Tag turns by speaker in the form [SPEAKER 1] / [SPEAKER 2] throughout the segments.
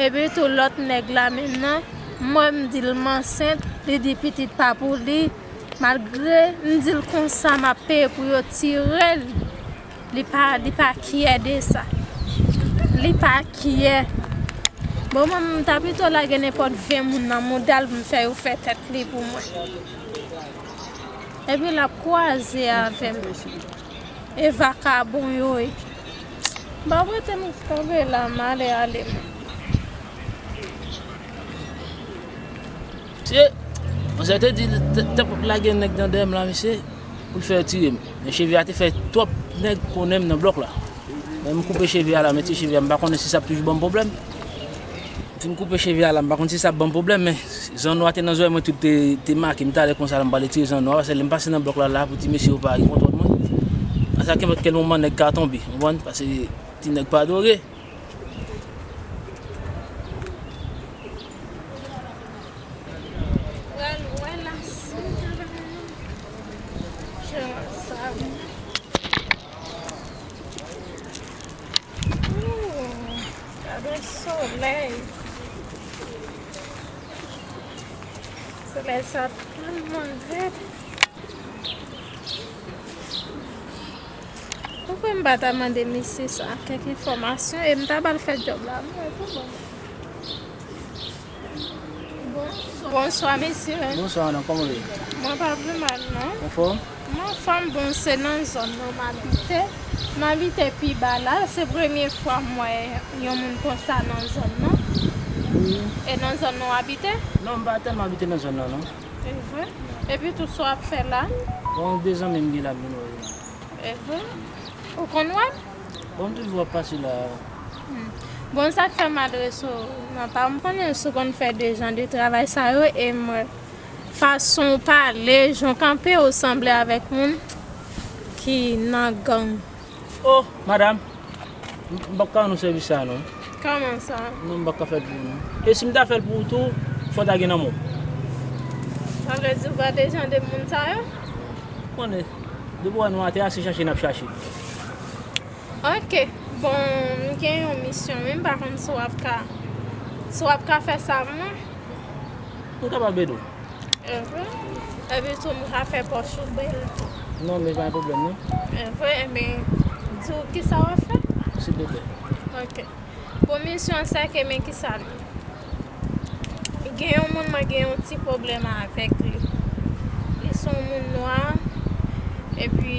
[SPEAKER 1] Epi tou lòt nèg la menm nan, mwen m di l m ansent, li di pitit pa pou li, malgre m di l konsa m ap peye pou yo tire l, li pa li pa kyè de sa, li pa kyè. Bon mwen m ta pito lage nenpòt 20 moun nan mouda l pou m fè yo fè tèt li pou mwen. Epi l ap kwaze avè m. E vakabon yo ye. Ba wete m kanpe la m ale ale m. Mesye,
[SPEAKER 2] mwen sa te di l t ap lage nèg nan dèyè m la mesye pou l fè yo tire m. Men cheve a te fè twòp nèg konnen m nan blòk la. Men m koupe cheve a la men ti cheve a m pa konnen si sa ap toujou ban m pwoblèm. M fin koupe cheve a la m pa konn si sa ap banm pwoblèm men zanno a te nan zòrèy mwen tout te make m talè konsa la m pral etire zanno a pase lè m pase nan blòk la la pou ti mesye yo pa gen kontwòl mwen a sa kenpòt kèl moman nèg ka tonbe ou konprann pase ti nèg pa dore
[SPEAKER 1] Gade solèy. Solèy sa tèlman rèd. Poukwen m pa ta mande misye sa kèk enfòmasyon e m ta ba l fè djòb la. M wè tou bon. Bonswa mesye. Bonswa madame, koman ou ye?
[SPEAKER 2] Mwen pa vle mal
[SPEAKER 1] non. Ou fò? Mwen
[SPEAKER 2] fòm bon
[SPEAKER 1] se nan zòn nan m abite. M abite pi ba la, se premye fwa m wè yon moun konsa nan zòn nan. E nan zòn nan w abite? Non, m pa tèlman
[SPEAKER 2] abite nan zòn nan non. E vre? Epi
[SPEAKER 1] tou sa w ap fè la? Bon, de zanmi
[SPEAKER 2] m gen la m vin wè yo la. E
[SPEAKER 1] vre? Ou konn wè l? Bon m toujou ap
[SPEAKER 2] pase la wi.
[SPEAKER 1] Bon sak fè m adrese w nan pa m konnen si w konn fè de jan de travay sa yo e m wè fason w pale jan w kanpe w sanble avèk moun ki nan gang. Oh
[SPEAKER 2] madam m pap ka rann w sèvis sa non. Kòman sa?
[SPEAKER 1] Non m pap ka fè l pou ou non.
[SPEAKER 2] E si m ta fè l pou ou tou fò ta gen nan men w.
[SPEAKER 1] Sa vle di w pa de jan de moun sa yo? Ou konnen
[SPEAKER 2] depi w wè nou atè a se chache n ap chache.
[SPEAKER 1] Ok bon m gen yon misyon wi m pa konn si w ap ka si w ap ka fè sa pou mwen.
[SPEAKER 2] M kapab ede w. Evre?
[SPEAKER 1] Epi tou m ka fè pòch ou bèl tou. Non men pa
[SPEAKER 2] gen pwoblèm non. Evre? Enben
[SPEAKER 1] di w kisa w ap fè? Silvouplè.
[SPEAKER 2] Ok.
[SPEAKER 1] Bon misyon an se ke men kisa l ye. Gen yon moun mwen gen yon ti pwoblèm avèk li. Li se yon moun nwa epi.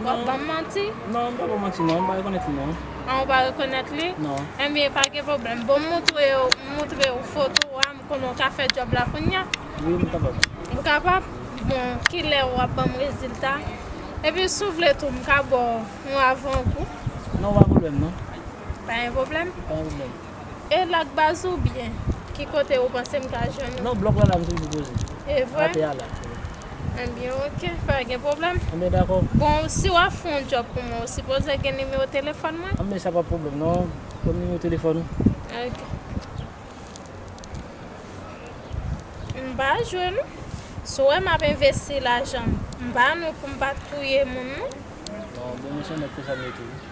[SPEAKER 1] Non. Wap banm manti? Non m pa banw manti
[SPEAKER 2] non, m pa rekonèt li non. Ah ou pa rekonèt
[SPEAKER 1] li? Non. Ebyen pa gen
[SPEAKER 2] pwoblèm,
[SPEAKER 1] bon m moutrew m moutrew foto a, m konnen w ka fè djòb la kounya? Wi m kapab.
[SPEAKER 2] Ou kapab?
[SPEAKER 1] Bon kilè wap banm rezilta? Epi si w vle tou m ka baw yon avangou. Non pa pwoblèm
[SPEAKER 2] non. Pa gen pwoblèm?
[SPEAKER 1] Pa gen pwoblèm.
[SPEAKER 2] E lak baz
[SPEAKER 1] ou byen. Ki kote ou panse m ka jwenn ou. Nan blòk lan la m toujou poze.
[SPEAKER 2] E vre? Atè a la. Ebyen
[SPEAKER 1] ok pa gen pwoblèm. Ebyen dakò. Bon
[SPEAKER 2] si wap fè yon
[SPEAKER 1] djòb pou mwen ou sipoze gen nimewo telefòn mwen? Ebyen sa pa pwoblèm
[SPEAKER 2] non. Banm nimewo telefòn ou. Ok.
[SPEAKER 1] M pa jwe non. Si w wè map envesti lajan m. M pa nou pou m pa touye moun non. Bon mwen
[SPEAKER 2] se yon nèg konsa m ye tou.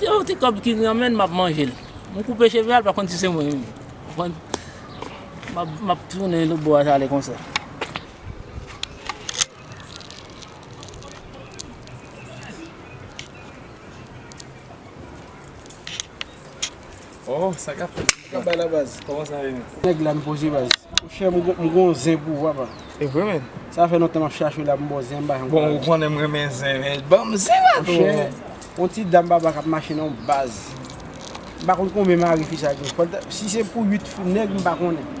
[SPEAKER 2] Gen yon ti kòb ki nan men l, m ap manje l. M koupe cheve a, l pa konn si se mwen menm. Ou konprann? M ap tounen lòt bò a, sa ale konsa.
[SPEAKER 3] Oh sa kap fèt la. Sa kap bay la baz. Koman
[SPEAKER 4] sa ye menm. Nèg
[SPEAKER 3] la m poze baz.
[SPEAKER 4] Mon chè m gon zen pou ou papa. E vre menn. Sa
[SPEAKER 3] fè lontan map chache
[SPEAKER 4] w la pou m ba w zen m pa janm ka jwenn. Bon ou konnen m renmen
[SPEAKER 3] zen men banm zen la tou. Mon chè yon ti
[SPEAKER 4] dam papa kap mache nan w baz. M pa konn konbyen mari fi sa gen. Si se pou 8 nèg m pa konnen.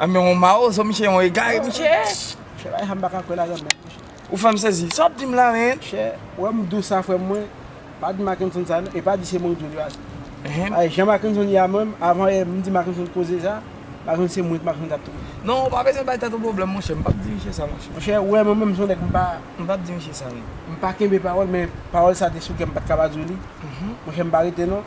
[SPEAKER 4] An men yon mawozo
[SPEAKER 3] misye yon egare misye ye. Chè la e sa m
[SPEAKER 4] paka kwè ladann menm tou chè. Ou fèm sezi,
[SPEAKER 3] sa wap dim la menn? Chè, ou wèm dous
[SPEAKER 4] sa frèm mwen, pa di Mackenson sa non, e pa di se mwen ou di yo depaske, ay jan Mackenson ye a menm, avan yè m di Mackenson koze sa, Mackenson se mwen Mackenson tap touye. Non ou pa bezwen bay tèt
[SPEAKER 3] ou pwoblèm monchè, m pap di misye sa monchè. Monchè, ou wè mwen menm son
[SPEAKER 4] nèg m pa, m pap di misye
[SPEAKER 3] sa non. M pa kenbe
[SPEAKER 4] pawòl men pawòl sa te sou kèm m pat ka pa di w li, monchè m pa rete non.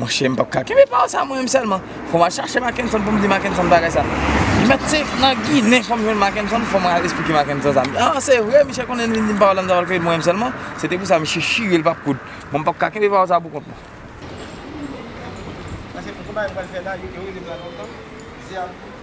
[SPEAKER 3] Monchè m pap ka kenbe pawòl sa mwen menm sèlman. Fò m al chache Mackenson pou m di Mackenson bagay sa. Li mèt se nan Ginen fò m jwenn Mackenson, fò m al esplike Mackenson sa. M di, an se vre, misye konnen li vin di m pawòl la m ta pral kenbe pou mwen menm sèlman. Se te pou sa misye chire l pa p koud. Bon m pap ka kenbe pawòl sa pou kont mwen. Paske pou konba yo pral fè la, yo rele m la lontan.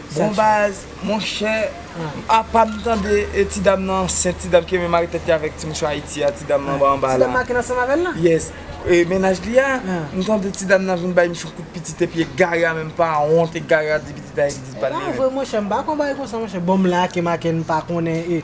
[SPEAKER 4] Bon baz,
[SPEAKER 3] monchè, apa m tande ti dam nan ansent, ti dam ki renmen mare tèt li avèk ti mouchwa Ayiti a, ti dam nan anba anba la. Ti dam nan ki nan sanm avè l lan? Yes.
[SPEAKER 4] E mennaj
[SPEAKER 3] li a, m tande ti dam nan vin bay mouche yon kout pitit epi egare a menm pa wont, egare a di pitit a e pitit pa l li menm. E pa vre monchè, m pa
[SPEAKER 4] konn bagay konsa monchè. Bon m la ake m ake n pa konnen e.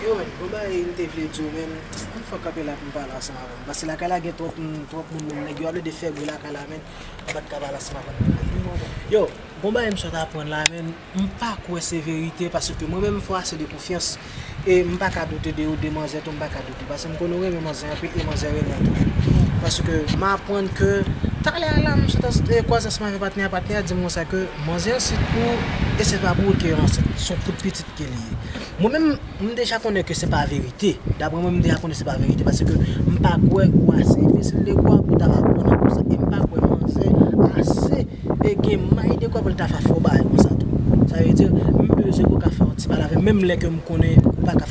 [SPEAKER 4] Yo menn bon bagay m te vle diw menm m fèk kanpe la poum pale ansanm avèw paske lakay la gen twòp moun twòp moun menm nèg yo ap plede fè bri lakay la menn m pat ka pale ansanm avèw m te vle diw yo bon bagay m sot aprann la menn m pa kwè se verite paske mwen menm m fè w ase de konfyans e m paka doute de ou de manzè tou m paka doute. Pase m konn ou renmen manzè anpil e manzè renmen w tou paske m aprann ke talè a la m sot e kwaze ansanm avè patnè a patnè a di m konsa ke manzè ansent pou ou e se pa pou ou ke yo ansent son kout pitit ke li ye mwen menm m deja konnen ke se pa verite daprè mwen m deja konnen se pa verite paske m pa kwè ou ase enbesil de kwa pou ta aprann yon konsa e m pa kwè manzè ase e gen may de kwa pou l ta fè fo bagay konsa tou sa vle di m bezwen pou w ka fè yon ti pale avè m menm lè ke m konnen ou pa ka.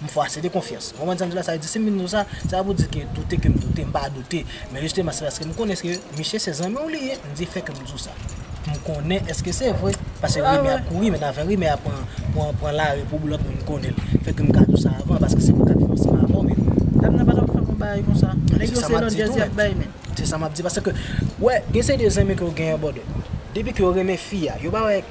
[SPEAKER 4] M fwase de konfyans. Konprann sa m di la? Sa vle di si m vin di w sa, se pa pou di ke doute ke m doute, m pa doute. Men jisteman se paske m konnen ke miche se zanmi w li ye, m di fè ke m di w sa. Pou m konnen eske se vre. Paske rimè ap kouri men avan rimè a pran pran lari pou lòt moun konnen l. Fè ke m ka di w sa avan paske se mwen k ap viv ansanm avè w men. Dam nan pa ta p fè m yon
[SPEAKER 2] bagay konsa. Nèg yo se lòt jazz y
[SPEAKER 4] ap bay men. Se sa m ap di paske, wè gen seri de zanmi ke w gen an bòdè. Depi ke yo renmen fi a, yo pa wè.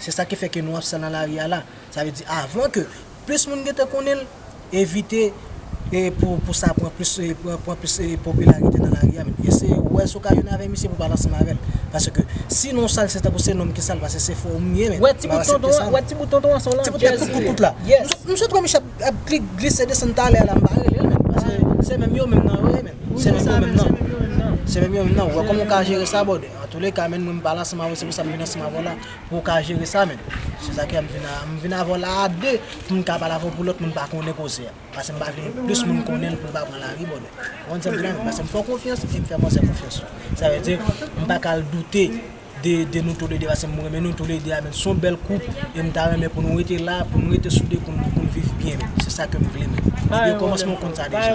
[SPEAKER 4] Se sa ki fè ke nou ap sa nan lari a la. Sa vle di avan ke plis moun gen tan konnen l, evite pou sa pran plis pran plis popilarite nan lari a menm. Eseye wè si w ka jwenn avè misye pou w pale ansanm avè l. Paske si non w sa l se tankou se nonm ki sa l paske se fò moun ye menm. Wè ti bout tonton an,
[SPEAKER 2] wè ti bout tonton an se yon landjèz li ye. Ti bout tèt kout kout la. Yes.
[SPEAKER 4] M swete wè misye ap glise desann talè a la m pa rele l menm. Paske se menm yo menm nan yo ye menm. Se menm yo menm nan. Se menm yo menm nan. Wè kòman w ka jere sa bòdè. Antoulèka menn mwen pala san mavo se pou sa m vin ansanm avè w la pou w ka jere sa menn se sa ki an m vin m vin avè w la a 2 pou m ka pale avè w pou lòt moun pa konnen koze a pase m pa vle plis moun konnen l pou l pa pran lari bòdè ou konn sa m di la menn pase m fè w konfyans e m fè manzè konfyans tou sa vle di m pa ka al doute de de nou toulede pase m renmen nou toulede a menn s on bèl koup e m ta renmen pou nou rete la pou nou rete soude pou nou viv byen menn se sa ke m vle menn depi okòmansman ou konn sa deja.